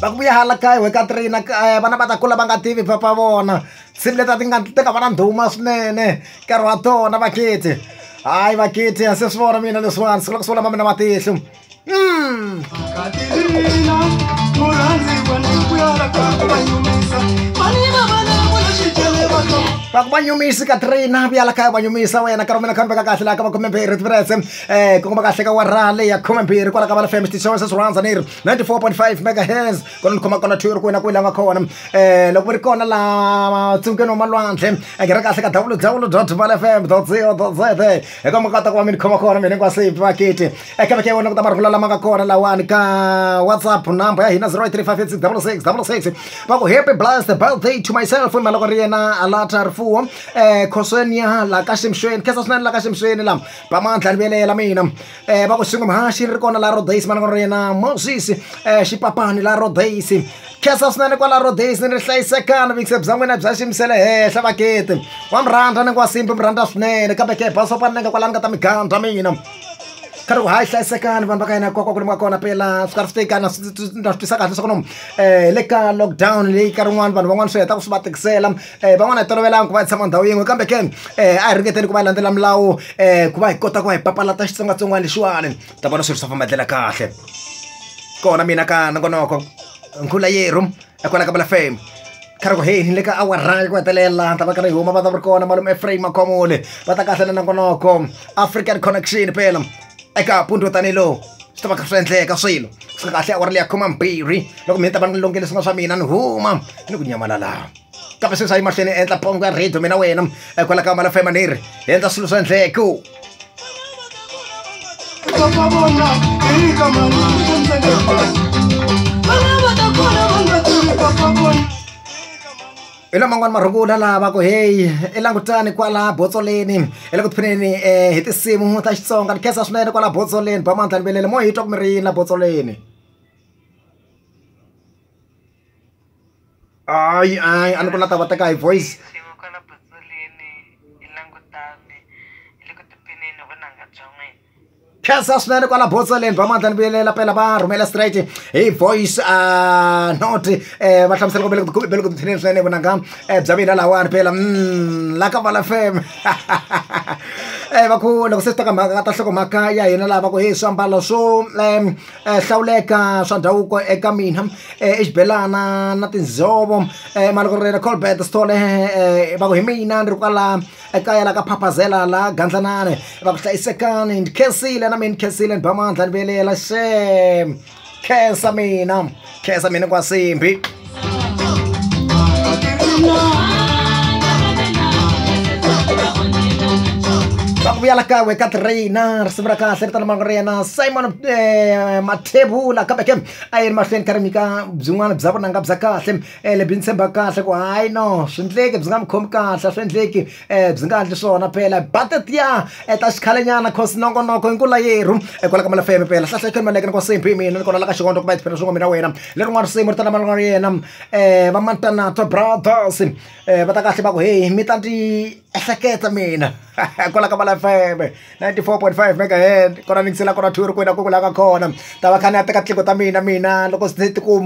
va ku vuya hala kaya wena ka three na kaya vana va ta kula va nga tivi papa vona nsimu leti a ti nga ti nga va na ndhuma swinene nkarhi wa tona vakheti hayi vakheti a se swi vona mina leswiwani siku la ku sungula ma mina matihlo va ku va nyumisi ka three na vuya la kaya va nyumisa wena nkarhi wa mina kha ni veka kahle laha ka va khumembirhi tiprese Eh, kongoma kahle ka wara leyi ya khume mbirhi kwala ka vala fm xitichi xa wena se swi rhandza ni ri 94.5 megahertz kona ni khoma kona two ri kwena kwela nga kona eh loko mi ri kona la tsungeni wa malwandle a nghena kahle ka www dot vala fm dot co dot za hi koma kota ku va mi ni khoma kona mina hinkwasiphi vakiti eka veke wena ku ta marungula lama nga kona lawani ka whatsapp number ya hina 0835866666 va ku happy blessed birthday to myself i maloko ri yena alata rifuwo eh khosweni ya la ka ximxweni khesa swinene la ka ximxweni la va mandla ni velela mina um va ku swin'we mhaxi ri kona la rodays mana kona ri yena moses um eh, xipapani la rodays khesa swinene kwala rodays ni ri hlayisekana vikise bya n'wina bya ximisele henhla vakete wa mi rhandza ni ku wa simbi mi rhandza swinene kambe ke basopani ni nga kwala ni nga ta mi gandza mina kha ri ku hayi hlayisekani vanhu va ka yena kwakwa ku limiwa kona pela swi ka ri fitekana na swi tisa kahle swa ku no um le ka lockdown leyi ka rin'wana vanhu van'wana swi heta ku swi va tikisela um van'wana hi tolovelanga ku va hi tshama ndhawu yin'we kambe ke um a hi ringeteni ku va hi landzela milawu um ku va hi kota ku va hi papalata xitsongwatsongwana lexiwani ta vona swilo swa famba ndlela kahle kona mina ka nongonoko nkhula yeru ekwala ka bala fame khari ku heyi ni le ka awara ya ku hetelela ta va ka ri huma va ta va ri kona malume efraim makhomole va ta kahle na nongonoko african connection pela eka punto tanihi lowu swi ta va kha swi endleka swilo swi kahle awara leya khoma mbirhi loko mina ta va ni longele swin'wana swa mina ni huma ni ku nyamalala kambe sweswi a yi mahlweni endla pongo ya radio mina wena kwala ka mala fema ni ri hi endla swilo swa endleko hi lama n'wana marungula lava ku heyi i langutani kwala botsoleni hi le ku tiphineni um eh, hi tinsimu ta xitsonga ni khensa swinene kwala botsoleni ba mandla ni velele mo hi twa ku mi ri yini la botsoleni Ay, ay, ano ko natabata kay voice? Kesa swinene kwala Botsaleni va mandla ni vuyelela pela va rhumela straight hi voice uh, not eh va hlamusela ku bele ku bele ku thineni swinene vonanga eh bya mina lawani phela mm la ka vala fam eh va ku loko se swi ta ka mhaka ta hloko mhaka ya hina lava ku hi swiambalo swo hlawuleka swa ndhavuko eka mina i xibelana na tinjhovo mali ku ri na Colbert Sithole va ku hi mina ni ri kwala ekaya la ka Phaphazela la Gandlanane va ku hlayisekani ni khensile na mina ni khensile ni ba mandla ni velela xem khensa mina. khesa mina kwasimbi vakuvuya la kawe ka traina risimu ra kahle ri tala mavoko ra yena simon eh, mathebula kambe ke a yi ri mahlweni ka rimika byin'wana bya vunanga bya kahle um lebyi ni tshemba kahle ku hayi no swi ndleki byi nga mi khomi kahle a swi endleki um byi nga endli swona phela ba tetiya um ta xikhalenyana coz nongonoko i nkula yerhu i kwala ka Mala F_M phela hlahla i khomela ni ku same hi mina ni kona la ka xivondzo kumbe tiphina swin'we mina wena lerin'wana risimu ri ta lama ni nga ri yena um va Mantanatwa Brothers um va ta kahle va ku heyi mi ta ni ehleketa mina kwala ka Mala F_M ninety four point five mega hertz kona ni yingisela kona two ri kwini a ku ku la nga kona ta va kha ni ya teka tleku ta mina mina loko se ti ku